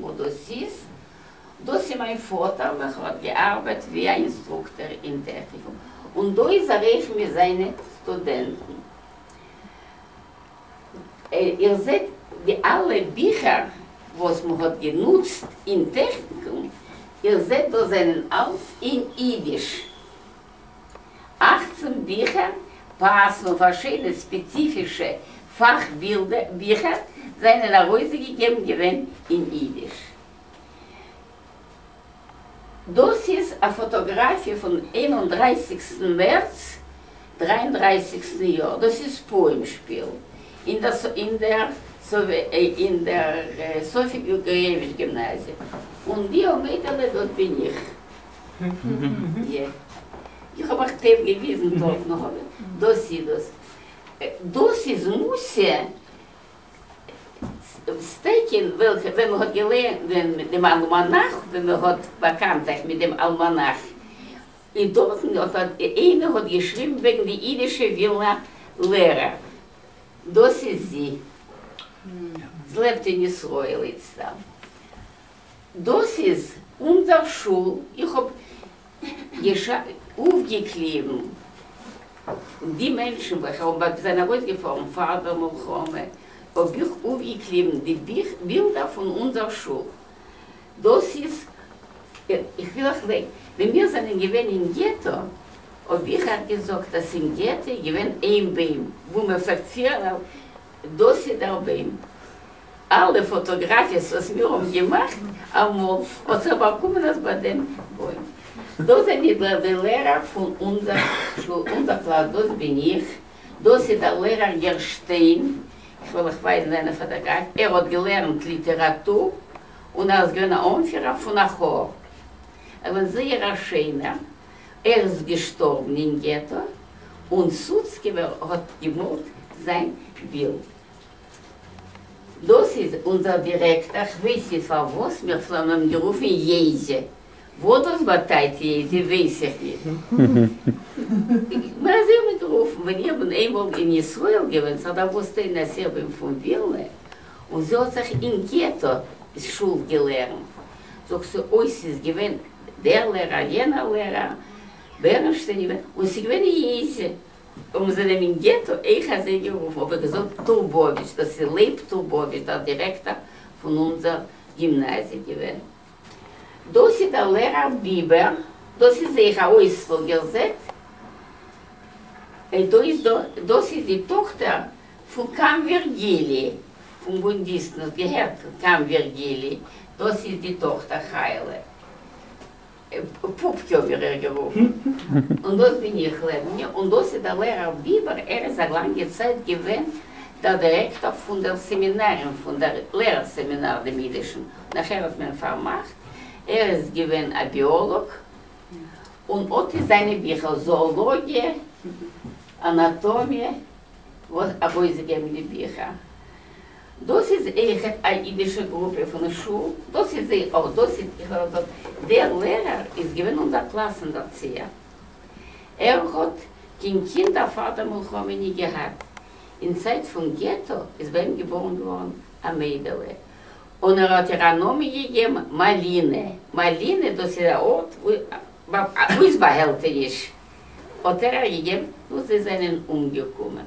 וואו דאס איז? דאס איז מיין פאטער וועלכער האט געארבעט ווי א אינסטרוקטער אין טעכניקום און דא איז ער אויך מיט זיינע סטודענטן. איר זעט די אלע ביכער וואס מען האט גענוצט אין טעכניקום, איר זעט דאס זענען אלס אין אידיש. אַכצן ביכער פאַסן און פאַרשידענע ספּעציפישע פאַך בילדע ביכער זיינען אַרויסגעגעבן געווען אין אידיש. דאָס איז אַ פאָטאָגראַפיע פון איין און דרייסיקסטן מערץ דרײַ און דרײַסיק טן יאָר, דאָס איז פּורים שפּיל אין דער אין דער אין דער סופי-גערגאָיעוויטש גימנאַזיע און דיאָ מיידעלע דאָט בין איך. איך האב אייך טעיפ געוויזן דארט נאך אבער דאס איז דאס. דאס איז מוסר סטעקין וועלכע ווען מען האט געליינט דעם אלמאנאך ווען מען האט באקאנט זיך מיט דעם אלמאנאך איז דארטן האט איינער האט געשריבן וועגן די אידישע ווילנא לערע דאס איז זי. זי לעבט אין ישראל איצטער. דאס איז אונזער שול, איך האב אויפגעקליבן די מענטשן וועלכע האבן זענען ארויסגעפארן פאר דער מלחמה, האב איך אויפגעקליבן די בילדער פון אונזער שול, דאס איז, איך וויל אייך זען, ווען מיר זענען געווען אין געטא, האב איך אייך געזאגט אז אין געטא איז געווען איין ביים וואו מען פלעגט ציען, דאס איז דער ביים. אלע פאטאגראפיעס וואס מיר האבן געמאכט אמאל האט זיך באקומען אז ביי דעם בוים דא זענען די די לערער פון אונזער שול אונזער קלאס דאס בין איך דאס איז דער לערער גערשטיין איך וועל אייך ווייזן זיינע פאטאגראפיעס ער האט געלערנט ליטעראטור און ער איז געווען א אנפירער פון א כאר ער איז זייער א שיינער ער איז געשטארבן אין געטא און סוצקעווער האט געמאלט זיין בילד. דאס איז אונזער דירעקטע כביסי פארוואס מיר פלען אים גערופן יעזי, וואס דאס באטייט יעזי ווייס איך נישט, נאר אזוי האט מען גערופן ווען איך בין איינמאל אין ישראל געווען, ס'האט דערוואוסט איין אז איך בין פון ווילנע, און זי האט זיך אין געטא שול געלערנט, זאגט זי אוי ס'איז געווען דער לערער יענער לערער, בערנשטיין געווען, און ס'איז געווען יעזי, האבן זיי דעם אין געטא עכ אזוי גערופן אבער געזאגט טורבאוויטש דאס איז לייב טורבאוויטש דער דירעקטאר פון אונזער גימנאזיע געווען דאס איז דער לערער ביבער דאס איז זייער אויסוואל איר זעט דא איז דא דאס איז די טאכטער פון קאם ווירגילי פון בונדיסטן האט געהערט קאם ווירגילי דאס איז די טאכטער חיילה. פּופּקע האָט מיר ער גערופֿן, און דאָס בין איך, לעבניע, און דאָס איז דער לערער ביבער, ער איז אַ לאַנגע צײַט געװען דער דירעקטאָר פֿון דער סעמינאַר און פֿון דער לערער-סעמינאַר דעם ייִדישן, נאַכער האָט מען פֿאַרמאַכט, ער איז געװען אַ ביאָלאָג, און אָט איז זײַנע ביכער, זאָאָלאָגיע, אַנאַטאָמיע, װאָס אַרױסגעגעבן די ביכער. דאס איז עכט א אידישע גרופע פון שול, דאס איז זיי אויך, דאס איז איך וועל זאגן, דער לערער איז געווען אונזער קלאסן דערציער, ער האט קיין קינדער פאר דער מלחמה נישט געהאט, אין צייט פון געטא איז ביי אים געבארן געווארן א מיידעלע, און ער האט איר א נאמען געגעבן מאלינע, מאלינע דאס איז א ארט וואו איז באהעלטעניש, האט ער איר געגעבן, נו זיי זענען אומגעקומען.